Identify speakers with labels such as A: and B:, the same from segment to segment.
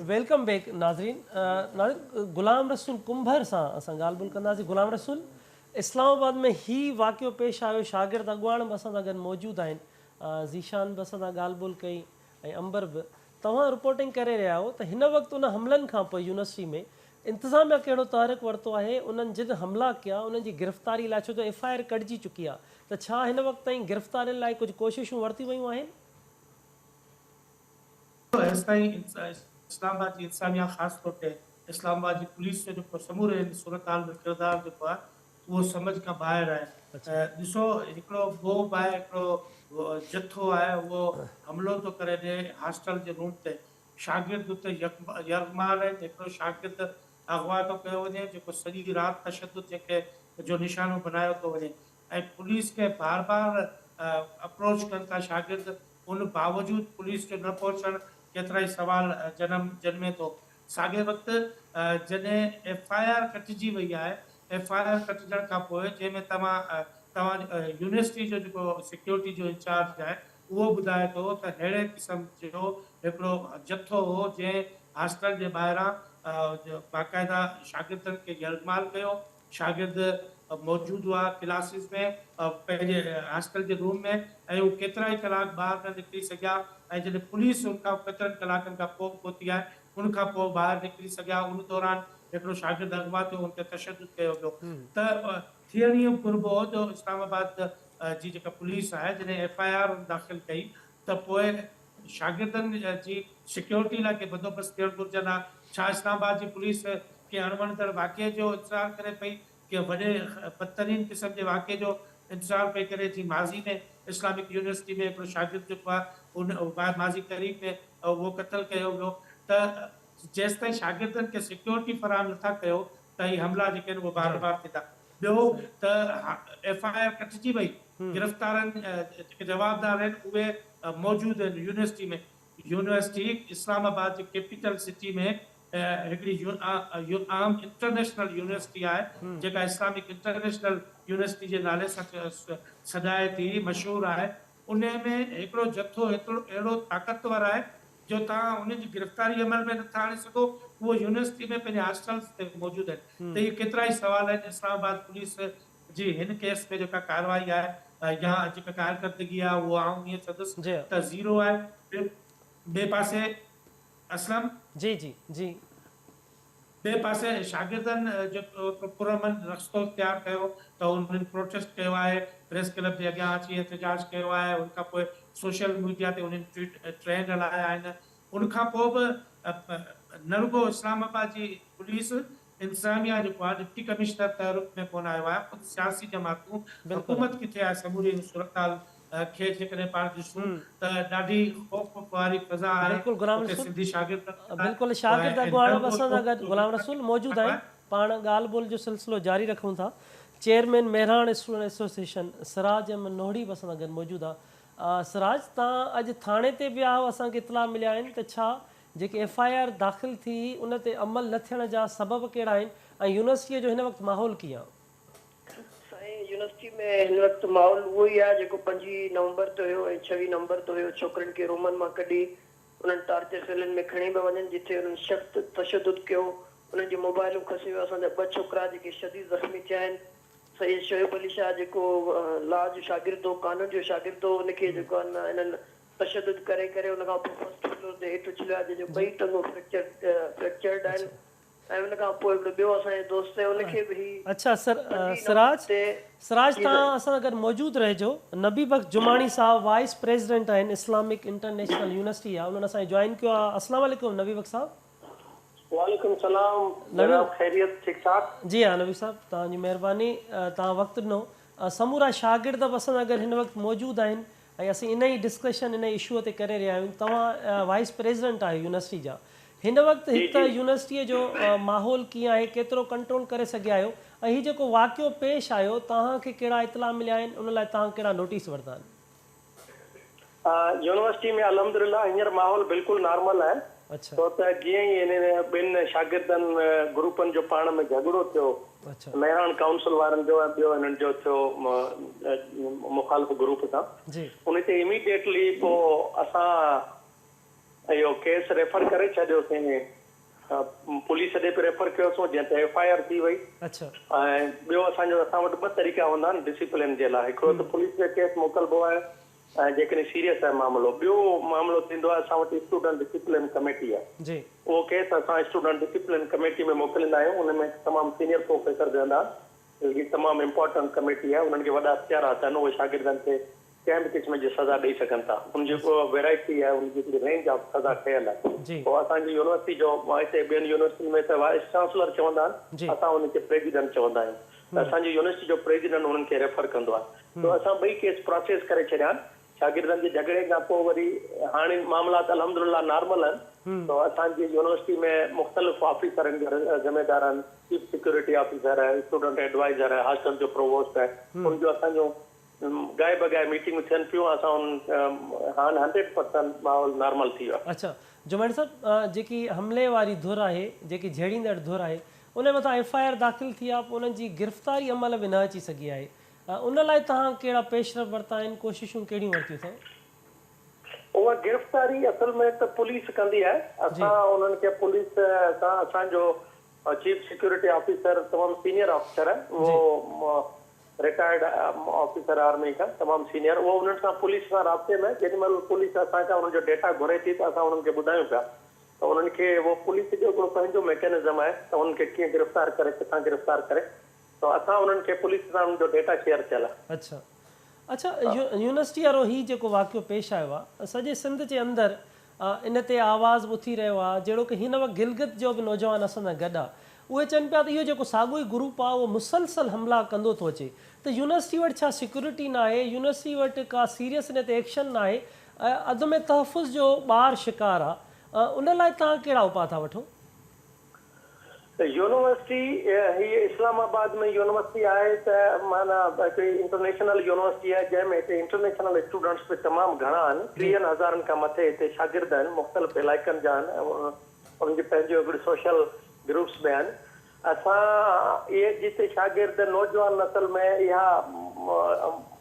A: Welcome back ناظرين ناظرين غلام رسول ڪنڀر سان اسان ڳالهه ٻولهه ڪنداسين غلام رسول اسلام آباد ۾ هي واقعو پيش آيو شاگرد اڳواڻ به اسان سان گڏ موجود آهن ذيشان به اسان سان ڳالهه ٻولهه ڪئي ۽ امبر به توهان رپورٽنگ ڪري رهيا آهيو ته هن وقت ان حملن کان پوء يونيورسٽي ۾ انتظاميا ڪهڙو تحرڪ ورتو آهي انهن جن حملا ڪيا انهن جي گرفتاري لاء ڇو جو ايف آء آر ڪڍجي چڪي آهي ته ڇا هن وقت تائين گرفتارين لاء ڪجهه ڪوششون ورتيون ويون آهن ايستائين
B: اسلام آباد جي انتظاميا خاص طور تي اسلام آباد جي پوليس جو جيڪو سموري ان صورتحال ۾ ڪردار جيڪو آهي اهو سمجهه کان ٻاهر آهي ڏسو هڪڙو موب آهي هڪڙو جٿو آهي اهو حملو ٿو ڪري ڏي هاسٽل جي روم تي شاگرد اتي يرغمال آهن هڪڙو شاگرد اغوا ٿو ڪيو وڃي جيڪو سڄي رات تشدد جيڪي جو نشانو بنايو ٿو وڃي ۽ پوليس کي بار بار اپروچ ڪن ٿا شاگرد ان باوجود پوليس جو نه پهچڻ ڪيترائي سوال جنم جنمي ٿو ساڳئي وقت جڏهن ايف آء آر ڪٽجي وئي آهي ايف آء آر ڪٽجڻ کان پوء جنهن ۾ توهان توهان يونيورسٽي جو جيڪو سيڪيورٽي جو انچارج آهي اهو ٻڌائي ٿو ته ههڙي قسم جو هڪڙو جٿو هو جنهن هاسٽل جي ٻاهران باقاعده شاگردن کي يرغمال ڪيو شاگرد موجود هئا ڪلاسز ۾ پنهنجي هاسٽل جي روم ۾ ۽ هو ڪيترائي ڪلاڪ ٻاهر نه نڪري سگهيا ۽ جڏهن پوليس ان کان ڪيترن ڪلاڪن کان پوء پهتي آهي ان کان پوء ٻاهر نڪري سگهيا ان دوران هڪڙو شاگرد اغوا ٿيو ان تي تشدد ڪيو ويو ته ٿيڻ اهو گهربو هو جو اسلام آباد جي جيڪا پوليس آهي جڏهن ايف آء آر داخل ڪئي ته پوء شاگردن جي سيڪيورٽي لاء ڪي بندوبست ٿيڻ گهرجن ها ڇا اسلام آباد جي پوليس ڪنهن اڻوڻندڙ واقعي جو انتظار ڪري پئي ڪنهن وڏي بدترين قسم جي واقعي جو انتظار پئي ڪري جيئن ماضي ۾ اسلامڪ يونيورسٽي ۾ هڪڙو شاگرد جيڪو آهي اهو ماضي قريب ۾ اهو قتل ڪيو ويو ته جيستائين شاگردن کي سيڪيورٽي فراهم نٿا ڪيو ته هي حملا جيڪي آهن اهي بار بار ٿيندا. ٻيو ته ايف آء آر ڪٽجي وئي، گرفتارن جيڪي جوابدار آهن اهي موجود آهن يونيورسٽي ۾، يونيورسٽي اسلام آباد جي ڪيپيٽل سٽي ۾ هڪڙي اهم انٽرنيشنل يونيورسٽي آهي جيڪا اسلامڪ انٽرنيشنل يونيورسٽي جي نالي سان سڏائي ٿي مشهور آهي انهي ۾ هڪڙو جٿو اهڙو طاقتور آهي جو توهان انهن جي گرفتاري عمل ۾ نٿا آڻي سگهو، اهي يونيورسٽي ۾ پنهنجي هاسٽلز تي موجود آهن ته اهي ڪيترائي سوال آهن، اسلام آباد پوليس جي هن ڪيس ۾ جيڪا ڪارروائي آهي يا جيڪا ڪارڪردگي آهي اهو آئون ائين چوندس ته زيرو آهي، ٻئي پاسي اسلم. جي جي
A: جي.
B: ٻئي پاسي شاگردن جيڪو هڪ پرامن رستو اختيار ڪيو ته انهن پروٽيسٽ ڪيو آهي، پريس ڪلب جي اڳيان اچي احتجاج ڪيو آهي، ان کان پوء سوشل ميڊيا تي انهن ٽوئيٽ ٽرينڊ هلايا آهن، ان کان پوء به نه رڳو اسلام آباد جي پوليس انتظاميا جيڪو آهي ڊپٽي ڪمشنر تحرڪ ۾ ڪونه آيو آهي، خود سياسي جماعتون حڪومت ڪٿي آهي سموري ان صورتحال کي جيڪڏهن پاڻ ڏسون ته ڏاڍي خوف واري فضا آهي بلڪل غلام اتي رسول سنڌي
A: شاگرد ته ٿيندا
B: آهن
A: بلڪل
B: پر شاگرد
A: اڳواڻ ايندڙ به اسان سان گڏ ڳوٺ غلام رسول موجود آهن آهي. پاڻ ڳالهه ٻولهه جو سلسلو جاري رکون ٿا chairman Mehran student association Siraj Ahmed Nohri به اسان سان گڏ موجود آ سراج تان اڄ ٿاڻي تي به آهو اسان کي اطلاع مليا آهن ته ڇا جيڪي ايف آء آر داخل ٿي هئي ان تي عمل نه ٿيڻ جا سبب ڪهڙا آهن ۽ يونيورسٽي جو هن وقت ماحول ڪيئن آ. سائين
C: يونيورسٽي ۾ هن وقت ماحول اهو ئي آهي جيڪو پنجين نومبر تي هيو ۽ ڇوين نومبر تي هيو ڇوڪرين کي رومن مان ڪڍي انهن ٽارچر سيلن ۾ کڻي پيا وڃن جتي انهن سخت تشدد ڪيو انهن جون موبائلون کسي ويو اسان جا ٻه ڇوڪرا جيڪي شديد زخمي ٿيا آهن سيد شعيب علي شاهه جيڪو لا جو شاگرد هو قانون جو شاگرد هو ان کي جيڪو آهن انهن تشدد ڪري ڪري ان کان پوء فرسٽ فلور تي هيٺ اڇليو آهي جنهن جون ٻئي ٽنگون فريڪچر فريڪچرڊ آهن سائين ان کان پوء هڪڙو ٻيو اسان جو دوست آهي ان کي به هي اڇا سر
A: سراج سراج جي توهان سائين. اسان سان گڏ موجود رهجو نبي بخش جماڻي صاحب وائيس پريزيڊنٽ آهن اسلامڪ انٽرنيشنل يونيورسٽي جا انهن اسان کي جوائن ڪيو آهي اسلام عليڪم نبي بخش صاحب. وعليڪم
D: السلام نبي جناب خيريت ٺيڪ ٺاڪ. جي ها نبي صاحب
A: توهان جي مهرباني توهان وقت ڏنو سمورا شاگرد به اسان سان گڏ هن وقت موجود آهن ۽ اسين ان ئي ڊسڪشن ان اشوء تي ڪري رهيا آهيون توهان وائيس پريزيڊنٽ آهيو يونيورسٽي جا هن وقت جي هت جي. يونيورسٽي جو ماحول ڪيئن آهي ڪيترو ڪنٽرول ڪري سگهيا آهيو ۽ هي جيڪو واقعو پيش آيو توهان کي ڪهڙا اطلاع مليا آهن ان لاء توهان ڪهڙا نوٽيس ورتا آهن. يونيورسٽي
D: ۾ الحمدلله هينئر ماحول بلڪل نارمل آهي ڇو ته جيئن
A: ئي انهن
D: ٻن شاگردن گروپن جو پاڻ ۾ جهڳڙو ٿيو، مهراڻ ڪائونسل وارن جو ۽ ٻيو انهن جو ٿيو مخالف گروپ سان، ان تي اميڊيٽلي پوء اسان اهو ڪيس ريفر ڪري ڇڏيوسين، پوليس ڏي به ريفر ڪيوسون جنهن تي ايف آء آر ٿي وئي ۽
A: ٻيو
D: اسان جو اسان وٽ ٻه طريقا هوندا آهن ڊسيپلين جي لاء، هڪڙو ته پوليس کي ڪيس موڪلبو آهي ۽ جيڪڏهن سيريس آهي معاملو. ٻيو معاملو ٿيندو آهي اسان وٽ اسٽوڊنٽ ڊسپلن ڪميٽي آهي. اهو ڪيس اسان اسٽوڊنٽ ڊسپلن ڪميٽي ۾ موڪليندا آهيون. ان ۾ تمام سينيئر پروفيسر ويهندا آهن. هي تمام امپارٽنٽ ڪميٽي آهي. انهن کي وڏا اختيارات آهن. اهي شاگردن کي ڪنهن به قسم جي سزا ڏئي سگهن ٿا. ان جي ويرائٽي آهي. ان جي هڪڙي رينج آف سزا ٺهيل آهي. اهو اسان جي يونيورسٽي جو هتي ٻين يونيورسٽين ۾ ته وائيس چانسلر چوندا آهن. اسان ان کي پريزيڊنٽ چوندا آهيون. ته اسان جي يونيورسٽي جو پريزيڊنٽ انهن کي ريفر ڪندو آهي سو اسان ٻئي ڪيس پراسيس ڪري ڇڏيا آهن شاگردن جي جهڳڙي کان پوء وري هاڻي معاملات الحمدلله نارمل آهن سو اسان جي يونيورسٽي ۾ مختلف آفيسرن جا ذميدار آهن چيف سيڪيورٽي آفيسر آهي اسٽوڊنٽ ايڊوائيزر آهي هاسٽل جو پرووسٽ آهي ان جو اسان جون گاهي بگاهي ميٽنگون ٿين پيون اسان ان هاڻ هنڊريڊ پرسنٽ ماحول نارمل ٿي ويو آهي. اڇا جماڻي صاحب
A: جيڪي حملي واري ڌر آهي جيڪي جهيڙيندڙ ڌر آهي انهي مٿان ايف آء آر داخل ٿي آهي انهن جي گرفتاري عمل ۾ نه اچي سگهي آهي ان لاء توهان ڪهڙا پيش رفت ورتا آهن ڪوششون ڪهڙيون ورتيون اٿئو. اها گرفتاري
D: اصل ۾ ته پوليس ڪندي آهي اسان انهن کي پوليس سان اسان جو چيف سيڪيورٽي آفيسر تمام سينئر آفيسر آهي اهو رٽائرڊ آفيسر آرمي کان تمام سينئر اهو انهن سان پوليس سان رابطي ۾ جيڏي مهل پوليس اسان کان انهن جو ڊيٽا گهري ٿي ته اسان انهن کي ٻڌايون پيا ته انهن کي اهو پوليس جو هڪڙو پنهنجو ميڪينزم آهي ته انهن کي ڪيئن گرفتار ڪري ڪٿان گرفتار ڪري ته اسان انهن کي پوليس سان انهن جو ڊيٽا شيئر ٿيل آهي. اڇا
A: اڇا يونيورسٽي وارو هي جيڪو واقعو پيش آيو آهي سڄي سنڌ جي اندر ان تي آواز به اٿي رهيو آهي جهڙوڪ هن وقت گلگت جو به نوجوان اسان سان گڏ آهي اهي چون پيا ته اهو جيڪو ساڳيو ئي گروپ آهي اهو مسلسل حملا ڪندو ٿو اچي ته يونيورسٽي وٽ ڇا سيڪيورٽي ناهي يونيورسٽي وٽ ڪا سيريس ان تي ايڪشن ناهي عدم تحفظ جو ٻار شڪار آهي ان لاء توهان ڪهڙا اپاء ٿا وٺو؟
D: يونيورسٽي هي اسلام آباد ۾ يونيورسٽي آهي ته معنيٰ هڪڙي انٽرنيشنل يونيورسٽي آهي جنهن ۾ هتي انٽرنيشنل اسٽوڊنٽس به تمام گهڻا آهن ٽيهن هزارن کان مٿي هتي شاگرد آهن مختلف علائقن جا آهن انهن جي پنهنجيون هڪڙيون سوشل گروپس به آهن اسان اهي جتي شاگرد نوجوان نسل ۾ اها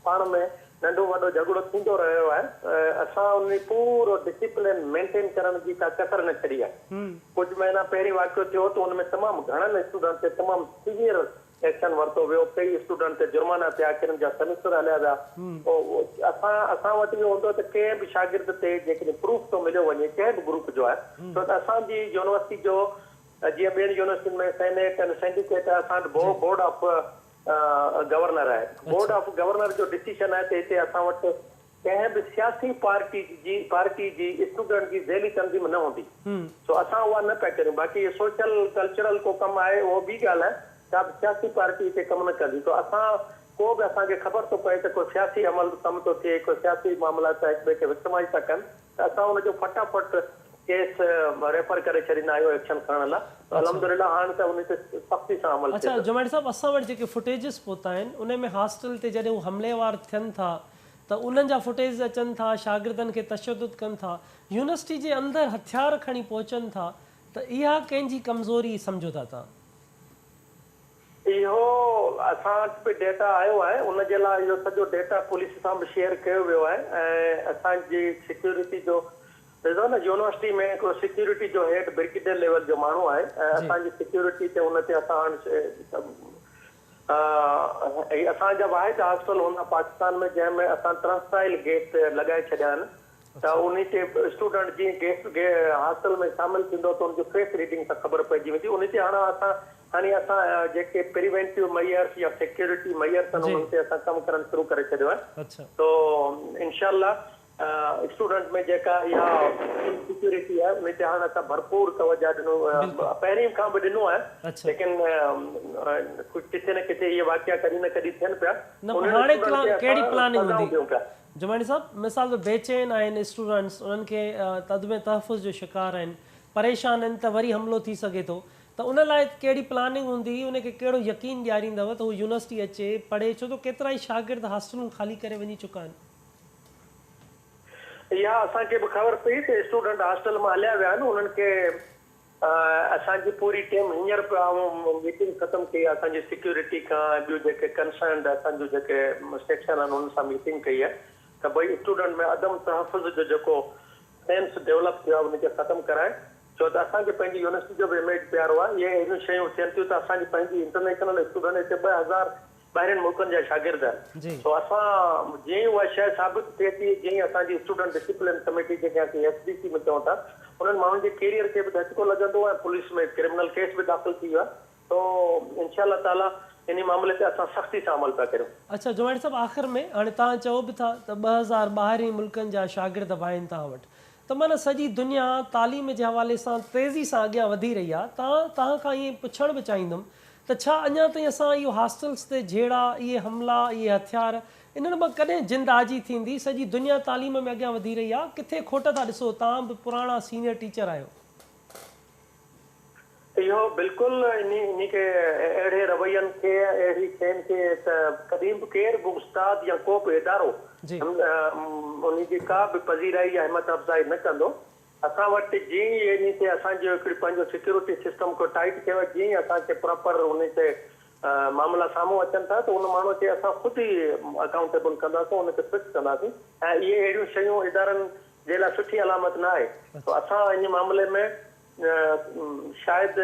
D: پاڻ ۾ ننڍو وڏو جهڳڙو ٿيندو رهيو آهي اسان ان ۾ پورو ڊسيپلين مينٽين ڪرڻ جي ڪا ڪسر نه ڇڏي آهي ڪجهه مهينا پهرين واقعو ٿيو ته ان ۾ تمام گهڻن اسٽوڊنٽ تي تمام سيويئر ايڪشن ورتو ويو ڪيئي اسٽوڊنٽ تي جرمانا ٿيا ڪن جا سيمسٽر هليا ويا اسان اسان وٽ اهو هوندو ته ڪنهن به شاگرد تي جيڪڏهن پروف ٿو مليو وڃي ڪنهن به گروپ جو آهي ڇو ته اسان جي يونيورسٽي جو جيئن ٻين يونيورسٽين ۾ سينيٽ ۽ سينڊيڪيٽ اسان وٽ بورڊ آف گورنر آهي بورڊ آف گورنر جو ڊسيشن آهي ته هتي اسان وٽ ڪنهن به سياسي پارٽي جي پارٽي جي اسٽوڊنٽ جي ذيلي تنظيم نه هوندي سو اسان اها نه پيا ڪريون باقي هي سوشل ڪلچرل ڪو ڪم آهي اهو ٻي ڳالهه آهي ڪا به سياسي پارٽي هتي ڪم نه ڪندي سو اسان ڪو به اسان کي خبر ٿو پئي ته ڪو سياسي عمل ڪم ٿو ٿئي ڪو سياسي معاملا ٿا هڪ ٻئي کي وڪٽمائز ٿا ڪن ته اسان ان جو فٽا فٽ ڪيس ريفر ڪري ڇڏيندا آهيون ايڪشن کڻڻ لاء ته الحمد لله هاڻ ته ان تي سختي سان عمل اڇا ٿئي ٿو. جماڻي صاحب اسان وٽ
A: جيڪي فوٽيجز پهتا آهن انهي ۾ هاسٽل تي جڏهن هو حملي وار ٿين ٿا ته انهن جا فوٽيجز اچن ٿا شاگردن کي تشدد ڪن ٿا يونيورسٽي جي اندر هٿيار کڻي پهچن ٿا ته اها ڪنهن جي ڪمزوري سمجهو ٿا توهان؟ اهو
D: اسان وٽ به ڊيٽا آيو آهي ان جي لاء اهو سڄو ڊيٽا پوليس سان به شيئر ڪيو ويو آهي ۽ اسان جي سيڪيورٽي جو ڏسو نه يونيورسٽي ۾ هڪڙو سيڪيورٽي جو هيڊ برگيڊيئر ليول جو ماڻهو آهي ۽ اسان جي سيڪيورٽي تي ان تي اسان هي اسان جا واحد هاسٽل هوندا پاڪستان ۾ جنهن ۾ اسان ٽرنسٽائل گيس لڳائي ڇڏيا آهن ته انهي تي اسٽوڊنٽ جيئن هاسٽل ۾ شامل ٿيندو ته ان جي فيس ريڊنگ سان خبر پئجي ويندي انهي تي هاڻ اسان هاڻي اسان جيڪي پريوينٽيو ميئرس يا سيڪيورٽي ميئرس آهن انهن تي اسان ڪم ڪرڻ شروع ڪري ڇڏيو آهي تو انشاء الله اسٽوڊنٽ ۾ جيڪا اها ان سيڪيورٽي آهي انهي تي هاڻ اسان ڀرپور توجه ڏنو پهرين کان به ڏنو آهي ليڪن ڪٿي نه ڪٿي اهي واقعا ڪڏهن نه ڪڏهن ٿين پيا انهن اسٽوڊنٽ
A: کي اسان سزائون ڏيون پيا جماڻي صاحب، مثال طور بي چين آهن اسٽوڊنٽس، انهن کي عدم تحفظ جو شڪار آهن، پريشان آهن ته وري حملو ٿي سگهي ٿو ته ان لاء ڪهڙي پلاننگ هوندي، انهن کي ڪهڙو يقين ڏياريندؤ ته هو يونيورسٽي اچي پڙهي ڇو ته ڪيترائي شاگرد هاسٽلون خالي ڪري وڃي چڪا آهن. اها
D: اسان کي به خبر پئي ته اسٽوڊنٽ هاسٽل مان هليا ويا آهن انهن کي. اسان جي پوري ٽيم هينئر پيو آئون ميٽنگ ختم ڪئي آ اسان جي سيڪيورٽي کان ۽ ٻيون جيڪي ڪنسرنڊ اسان جون جيڪي سيڪشن آهن انهن سان ميٽنگ ڪئي آ ته ڀئي اسٽوڊنٽ ۾ عدم تحفظ جو جيڪو سينس ڊيولپ ٿيو آ ان کي ختم ڪرائين ڇو ته اسان کي پنهنجي يونيورسٽي جو به اميج پيارو آ اهي اهڙيون شيون ٿين ٿيون ته اسان جي پنهنجي انٽرنيشنل اسٽوڊنٽ هتي ٻه هزار ٻاهرين ملڪن جا شاگرد آهن سو اسان جيئن ئي اها شيء ثابت ٿئي ٿي جيئن ئي اسان جي اسٽوڊنٽ ڊسپلن ڪميٽي جنهن کي اسين ايس ڊي سي به چئون ٿا انهن ماڻهن جي ڪيريئر کي به ڌچڪو لڳندو ۽ پوليس ۾ ڪرمنل ڪيس به داخل ٿي ويو آهي سو انشاء الله تعاليٰ انهي معاملي تي اسان سختي سان عمل پيا ڪريون. اڇا جماڻي صاحب آخر
A: ۾ هاڻي توهان چئو به ٿا ته ٻه هزار ٻاهرين ملڪن جا شاگرد به آهن توهان وٽ ته معنيٰ سڄي دنيا تعليم جي حوالي سان تيزي سان اڳيان وڌي رهي آهي توهان توهان کان ائين پڇڻ به چاهيندم ته ڇا اڃا تائين اسان اهو هاسٽلز تي جهيڙا، اهي حملا، اهي هٿيار، انهن مان ڪڏهن جند آجي ٿيندي؟ سڄي دنيا تعليم ۾ اڳيان وڌي رهي آهي، ڪٿي کوٽ ٿا ڏسو؟ توهان به پراڻا سينيئر ٽيچر آهيو.
D: اهو بلڪل انهي کي اهڙي روين کي اهڙي شين کي ته ڪڏهن به ڪير به استاد يا ڪو به ادارو انهي جي ڪا به پذيرائي يا همت افزائي نه ڪندو. اسان وٽ جيئن ئي انهي تي اسان جو هڪڙي پنهنجو سيڪيورٽي سسٽم ڪو ٽائيٽ ٿيو آهي جيئن ئي اسان کي پراپر انهي تي معاملا سامهون اچن ٿا ته ان ماڻهو کي اسان خود ئي اڪائونٽيبل ڪنداسون ان کي فڪس ڪنداسين ۽ اهي اهڙيون شيون ادارن جي لاء سٺي علامت نه آهي ته اسان انهي معاملي ۾ شايد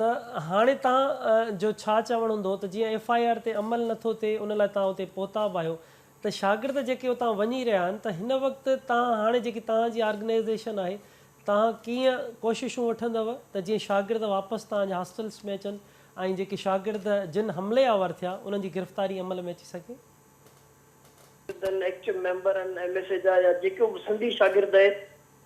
A: ته هاڻي توهان جو ڇا چوڻ هوندو ته جيئن ايف آء آر تي عمل نه ٿو ٿئي ان لاء توهان اتي پهتا به آهيو ته شاگرد جيڪي اتان وڃي رهيا آهن ته هن وقت توهان هاڻي جيڪي توهان جي آرگنائيزيشن آهي توهان ڪيئن ڪوششون وٺندؤ ته جيئن شاگرد واپس توهان جي هاسٽلس ۾ اچن ۽ جيڪي شاگرد جن حملي آور ٿيا انهن جي گرفتاري عمل ۾ اچي سگهي. شاگردن، ايڪٽيو
C: ميمبرن، ايم ايس اي جا يا جيڪو به سنڌي شاگرد آهي.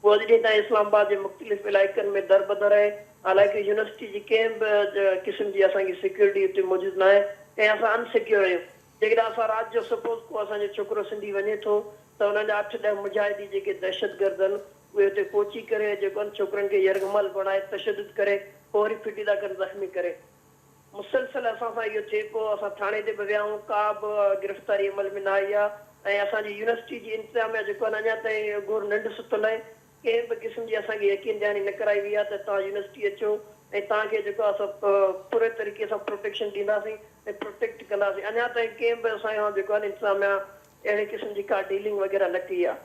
C: هو اڄ ڏينهن تائين اسلام آباد جي مختلف علائقن ۾ دربدر آهي. حالانڪه يونيورسٽي جي ڪنهن به قسم جي اسان کي سيڪيورٽي اتي موجود ناهي ۽ اسان ان سيڪيور آهيون. جيڪڏهن اسان رات جو سپوز ڪو اسان جو ڇوڪرو سنڌي وڃي ٿو ته انهن جا اٺ ڏهه مجاهدي جيڪي دهشتگردن اهي اتي پهچي ڪري جيڪو ان ڇوڪرن کي يرغمال بڻائي تشدد ڪري پوء وري ڦٽي ٿا ڪن زخمي ڪري. مسلسل اسان سان اهو ٿئي پيو، اسان ٿاڻي تي به ويا آهيون، ڪا به گرفتاري عمل ۾ نه آئي آهي ۽ اسان جي يونيورسٽي جي انتظاميا جيڪو آهي نه اڃا تائين گهور ننڊ ستل آهي، ڪنهن به قسم جي اسان کي يقين دهاني نه ڪرائي وئي آهي ته توهان يونيورسٽي اچو ۽ توهان کي جيڪو آهي سو پوري طريقي سان پروٽيڪشن ڏينداسين ۽ پروٽيڪٽ ڪنداسين، اڃا تائين ڪنهن به اسان سان جيڪو آهي نه انتظاميا اهڙي قسم جي ڪا ڊيلنگ وغيره نه ڪئي آهي.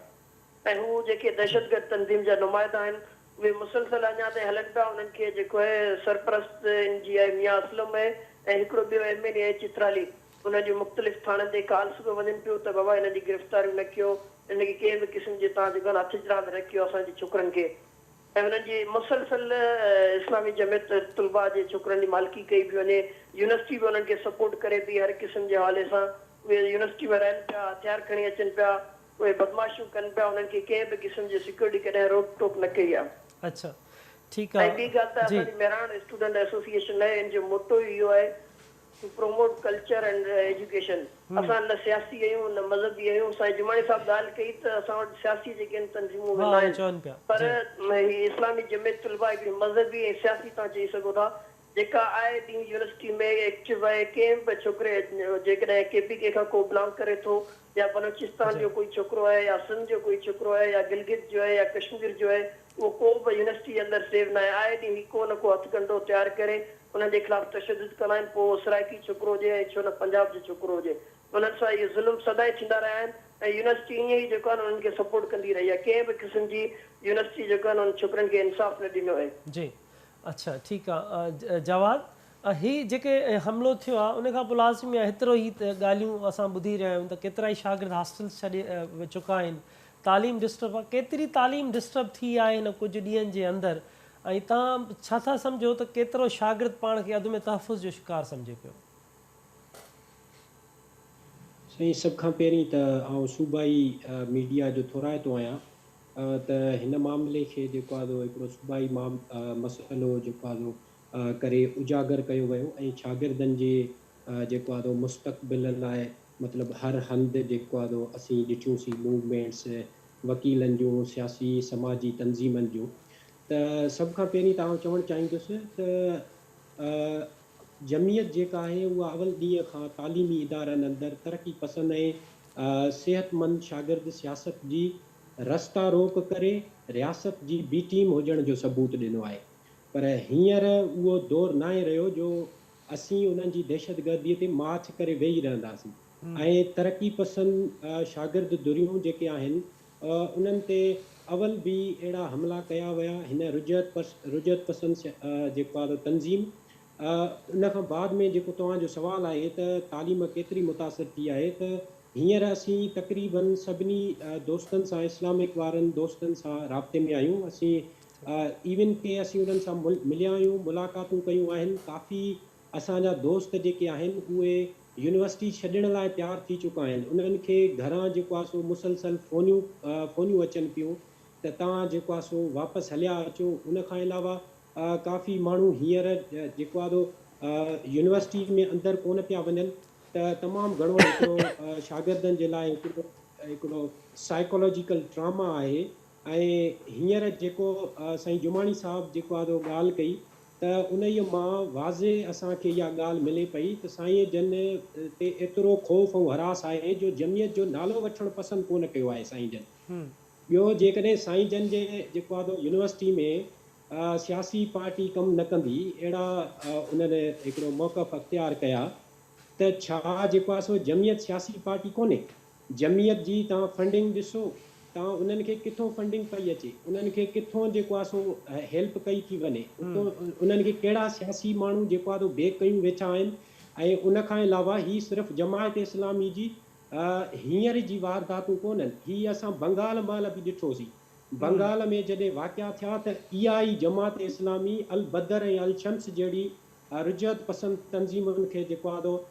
C: ۽ هو جيڪي دهشتگرد تنظيم جا نمائندا آهن اهي مسلسل اڃا تائين هلن پيا انهن کي جيڪو اهي سرپرست اين جي آء ميان اسلم اهي ۽ هڪڙو ٻيو ايم اين اي اهي چترالي انهن جون مختلف ٿاڻن تي ڪالس به وڃن پيون ته بابا انهن جي گرفتاريون نه ڪيو انهن کي ڪنهن به قسم جي تان جيڪو آهن هٿ چراند نه ڪيو اسان جي ڇوڪرن کي ۽ انهن جي مسلسل اسلامي جمعيت طلبا جي ڇوڪرن جي مالڪي ڪئي پيو وڃي يونيورسٽي به انهن کي سپورٽ ڪري پئي هر قسم جي حوالي سان اهي يونيورسٽي ۾ رهن پيا هٿيار کڻي اچن پيا. اهي بدمعاشيون ڪن پيا انهن کي ڪنهن به قسم جي سيڪيورٽي ڪڏهن روڪ ٽوڪ نه ڪئي آهي. اڇا
A: ٺيڪ آ ۽ ٻي ڳالهه ته جي. اسان جي
C: مهراڻ اسٽوڊنٽ ايسوسيئيشن آهي ان جو موٽو ئي اهو آهي to promote culture and education اسان نه سياسي آهيون نه مذهبي آهيون سائين جماڻي صاحب ڳالهه ڪئي ته اسان وٽ سياسي جيڪي آهن تنظيمون اهي ها اهي ناهن چون پيا پر جي. هي اسلامي جمعيت طلبه هڪڙي مذهبي ۽ سياسي توهان چئي سگهو ٿا جيڪا آئي ڏينهن يونيورسٽي ۾ ايڪٽو رهي ڪنهن به ڇوڪري جيڪڏهن ڪي پي ڪي کان ڪو بلانگ ڪري ٿو يا بلوچستان جو ڪوئي ڇوڪرو آهي يا سنڌ جو ڪوئي ڇوڪرو آهي يا گلگت جو آهي يا ڪشمير جو آهي اهو ڪو به يونيورسٽي اندر سيف نه آهي آئي ڏينهن هي ڪو نه ڪو هٿ ڪنڊو تيار ڪري انهن جي خلاف تشدد ڪندا آهن پوء اهو سرائڪي ڇوڪرو هجي ۽ ڇو نه پنجاب جو ڇوڪرو هجي انهن سان اهي ظلم سدائين ٿيندا رهيا آهن ۽ يونيورسٽي ائين ئي جيڪو آهي انهن کي سپورٽ ڪندي رهي آهي ڪنهن به قسم جي يونيورسٽي جيڪو آهي انهن ڇوڪرين کي انصاف نه ڏنو آهي. جي اڇا
A: ٺيڪ آ جواد هي جيڪي حملو ٿيو آ ان کان پو لازمي آ هيترو هي ڳالهيون اسان ٻڌي رهيا آهيون ته ڪيترائي شاگرد هاسٽلز ڇڏي چڪا آهن تعليم ڊسٽرب آ ڪيتري تعليم ڊسٽرب ٿي آهي هن ڪجهه ڏينهن جي اندر ۽ تهان ڇا ٿا سمجهو ته ڪيترو شاگرد پاڻ کي عدم تحفظ جو شڪار سمجهي پيو.
E: سائين سڀ کان پهرين ته آئون صوبائي ميڊيا جو ٿورائتو آهيان. ته هن معاملي کي جيڪو آهي سو هڪڙو صوبائي مسئلو جيڪو آهي سو ڪري اجاگر ڪيو ويو ۽ شاگردن جي جيڪو آهي سو مستقبل لاء مطلب هر هنڌ جيڪو آهي سو اسين ڏٺيون سين موومينٽس وڪيلن جون سياسي سماجي تنظيمن جون ته سڀ کان پهرين ته آئون چوڻ چاهيندس ته جمعيت جيڪا آهي اها اول ڏينهن کان تعليمي ادارن اندر ترقي پسند ۽ صحتمند شاگرد سياست جي رستا روڪ ڪري رياست جي بي ٽيم هجڻ جو ثبوت ڏنو آهي پر هينئر اهو دور ناهي رهيو جو اسين انهن جي دهشتگردي تي ماڇ ڪري ويهي رهنداسين ۽ ترقي پسند شاگرد ڌريون جيڪي آهن انهن تي اول به اهڙا حملا ڪيا ويا، هن رجعت پس رجعت پسند سيا جيڪو آهي ته تنظيم ان کان بعد ۾ جيڪو توهان جو سوال آهي ته تعليم ڪيتري متاثر ٿي آهي ته هينئر اسين تقريباً سڀني دوستن سان اسلامڪ وارن دوستن سان رابطي ۾ آهيون اسين ايون ڪي اسين انهن سان مليا آهيون ملاقاتون ڪيون آهن ڪافي اسان جا دوست جيڪي آهن اهي يونيورسٽي ڇڏڻ لاء تيار ٿي چڪا آهن انهن کي گهران جيڪو آهي سو مسلسل فونيون فونيون اچن پيون ته توهان جيڪو آهي سو واپس هليا اچو ان کان علاوه ڪافي ماڻهو هينئر جيڪو آهي سو يونيورسٽي ۾ اندر ڪونه پيا وڃن ته تمام گهڻو هڪڙو شاگردن جي لاء هڪڙو هڪڙو سائيڪالاجيڪل ٽراما آهي ۽ هينئر جيڪو سائين جماڻي صاحب جيڪو آدو ڳالهه ڪئي ته انهيء مان واضح اسان کي اها ڳالهه ملي پئي ته سائين جن تي ايترو خوف ۽ هراس آهي جو جمعيت جو نالو وٺڻ پسند ڪونه ڪيو آهي سائين جن. ٻيو جيڪڏهن سائين جن جي جيڪو آدو يونيورسٽي ۾ سياسي پارٽي ڪم نه ڪندي اهڙا انهن هڪڙو موقف اختيار ڪيا ته ڇا جيڪو آسو جمعيت سياسي پارٽي ڪونهي؟ جمعيت جي توهان فنڊنگ ڏسو توهان انهن کي ڪٿون فنڊنگ پئي اچي انهن کي ڪٿون جيڪو آهي سو هيلپ ڪئي ٿي وڃي اتون انهن کي ڪهڙا سياسي ماڻهو جيڪو آهي سو بيڪ ڪيون ويٺا آهن ۽ ان کان علاوه هي صرف جماعت اسلامي جي هينئر جي وارداتون ڪونهن هي اسان بنگال مهل به ڏٺوسين بنگال ۾ جڏهن واقعا ٿيا ته اها ئي جماعت اسلامي البدر ۽ الشمس جهڙي رجعت پسند تنظيمن کي جيڪو آهي سو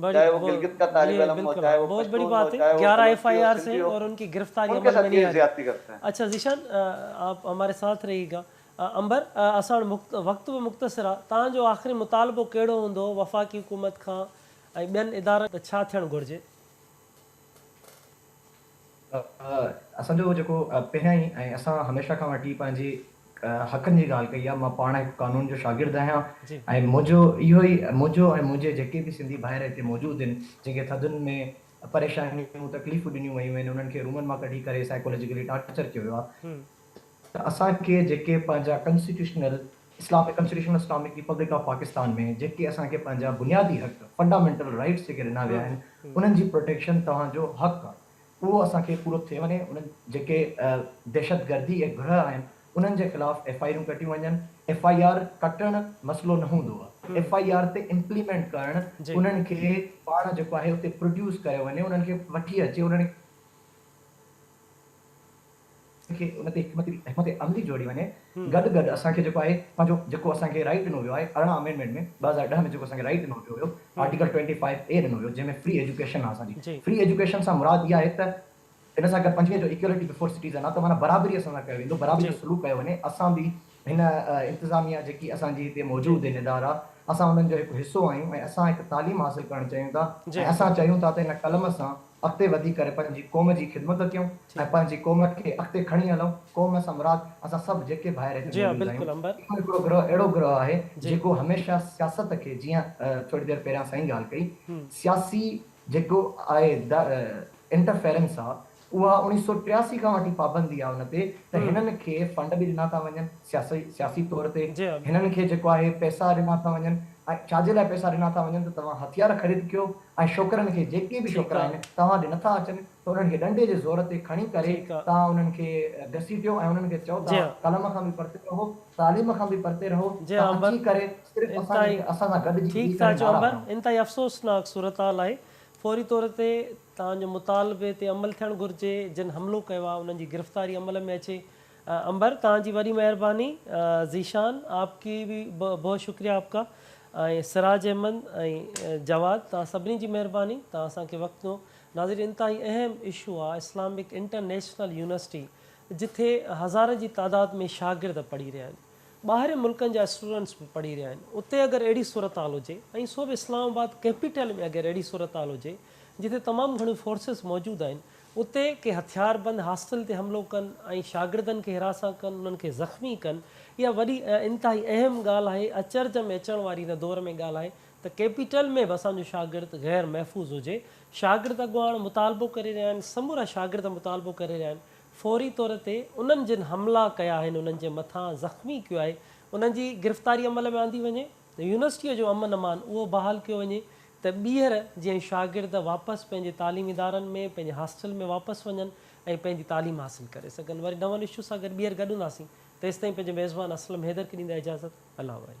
F: چاهي هو گلگت کا طالب علم هو، چاهي
A: هو پشتون هو، چاهي هو بلوچ هو، سنڌي هو، ان ڪي ساتھ ڪيئي زيادتي ڪرتے هين؟ اڇا
F: ذيشان
A: آپ هماري ساٿ رهيئي گا امبر اسان وٽ وقت به مختصر آ توهان جو آخري مطالبو ڪهڙو هوندو وفاقي حڪومت کان ۽ ٻين ادارن ته ڇا ٿيڻ گهرجي.
G: اسان جو جيڪو پهريان ئي ۽ اسان هميشه کان وٺي پنهنجي حقن جي ڳالهه ڪئي آهي، مان پاڻ هڪ قانون جو شاگرد آهيان ۽ منهنجو اهو ئي منهنجو ۽ منهنجي جيڪي به سنڌي ڀائر هتي موجود آهن، جن کي ٿڌين ۾ پريشانيون تڪليفون ڏنيون ويون آهن، انهن کي رومن مان ڪڍي ڪري سائيڪالوجيڪلي ٽارچر ڪيو ويو آهي، ته اسان کي جيڪي پنهنجا constitutional Islamic constitutional Islamic republic of Pakistan ۾ جيڪي اسان کي پنهنجا بنيادي حق فنڊامينٽل رائيٽس جيڪي ڏنا ويا آهن انهن جي پروٽيڪشن توهان جو حق آهي اهو اسان کي پورو ٿئي وڃي انهن جيڪي دهشتگردي جي گرهه آهن انهن جي خلاف ايف آء آرون ڪٽيون وڃن ايف آء آر ڪٽڻ مسئلو نه هوندو آهي ايف آء آر تي امپليمينٽ ڪرڻ انهن کي پاڻ جيڪو آهي اتي پروڊيوس ڪريو وڃي انهن کي وٺي اچي انهن اسان کي ان تي حڪمت حڪمت عملي جوڙي وڃي گڏ گڏ اسان کي جيڪو آهي پنهنجو جيڪو اسان کي رائيٽ ڏنو ويو آهي ارڙهن آمينڊمينٽ ۾ ٻه هزار ڏهه ۾ جيڪو اسان کي رائيٽ ڏنو ويو هيو آرٽيڪل ٽوئنٽي فائيو اي ڏنو ويو جنهن ۾ فري ايجوڪيشن آهي اسان جي فري ايجوڪيشن سان مراد اها آهي ته ان سان گڏ پنجويهه جو ايڪيولٽي بفور سٽيزن آهي ته معنيٰ برابري اسان سان ڪيو ويندو برابري جو سلوڪ ڪيو وڃي اسان به هن انتظاميه جيڪي اسان جي هتي موجود هن ادارا اسان انهن جو هڪ حصو آهيون ۽ اسان هڪ تعليم حاصل ڪرڻ چاهيون ٿا ۽ اسان چاهيون ٿا ته هن قلم سان اڳتي وڌي ڪري پنهنجي قوم جي خدمت ڪيون ۽ پنهنجي قوم کي اڳتي کڻي هلون قوم سان مراد اسان سڀ جيڪي ڀائر هتي موجود آهيون اهو هڪڙو گروهه اهڙو گروهه آهي جيڪو هميشه سياست کي جيئن ٿوري دير پهريان سائين ڳالهه ڪئي سياسي جيڪو آهي انٽرفيرنس آهي اها اوڻيهه سؤ ٽياسي کان وٺي پابندي آهي ان تي ته هنن کي فنڊ به ڏنا ٿا وڃن سياسي سياسي طور تي هنن کي جيڪو آهي پئسا ڏنا ٿا وڃن ۽ ڇا جي لاء پئسا ڏنا ٿا وڃن ته توهان هٿيار خريد ڪيو ۽ شوڪرن کي جيڪي به شوڪرا آهن توهان ڏي نٿا اچن ته انهن کي ڏنڊي جي زور تي کڻي ڪري توهان انهن کي گسيٽيو ۽ انهن کي چئو توهان قلم کان به پرتي رهو تعليم کان به پرتي رهو توهان اچي ڪري صرف اسان سان گڏجي ويهي
A: ڪري نعرا هڻو. فوري طور تي توهان جي مطالبي تي عمل ٿيڻ گهرجي جن حملو ڪيو آهي انهن جي گرفتاري عمل ۾ اچي. عنبر توهان جي وڏي مهرباني. ذيشان آپ ڪي بي بهت شڪريا آپ ڪا ۽ سراج احمد ۽ جواد توهان سڀني جي مهرباني توهان اسان کي وقت ڏنو ناظرين انتهائي اهم اشو آهي اسلامڪ انٽرنيشنل يونيورسٽي جٿي هزارن جي تعداد ۾ شاگرد پڙهي رهيا آهن. ٻاهرين ملڪن جا اسٽوڊنٽس به پڙهي رهيا آهن اتي اگر اهڙي صورتحال هجي ۽ سو به اسلام آباد ڪيپيٽل ۾ اگر اهڙي صورتحال هجي جتي تمام گهڻيون فورسز موجود آهن اتي ڪي هٿياربند هاسٽل تي حملو ڪن ۽ شاگردن کي حراسان ڪن انهن کي زخمي ڪن اها وڏي ۽ انتهائي اهم ڳالهه آهي اچرج ۾ اچڻ واري هن دور ۾ ڳالهه آهي ته ڪيپيٽل ۾ به اسان جو شاگرد غير محفوظ هجي شاگرد اڳواڻ مطالبو ڪري رهيا آهن سمورا شاگرد مطالبو ڪري رهيا آهن فوري طور تي انهن جن حملا ڪيا آهن انهن جي مٿان زخمي ڪيو آهي انهن جي گرفتاري عمل ۾ آندي وڃي ته يونيورسٽيء جو امن امان اهو بحال ڪيو وڃي ته ٻيهر جيئن شاگرد واپس پنهنجي تعليمي ادارن ۾ پنهنجي هاسٽل ۾ واپس وڃن ۽ پنهنجي تعليم حاصل ڪري سگهن وري نون اشو سان گڏ ٻيهر گڏون ٿاسين تيستائين پنهنجي ميزبان اسلم حيدر کي ڏيندا اجازت الله واري.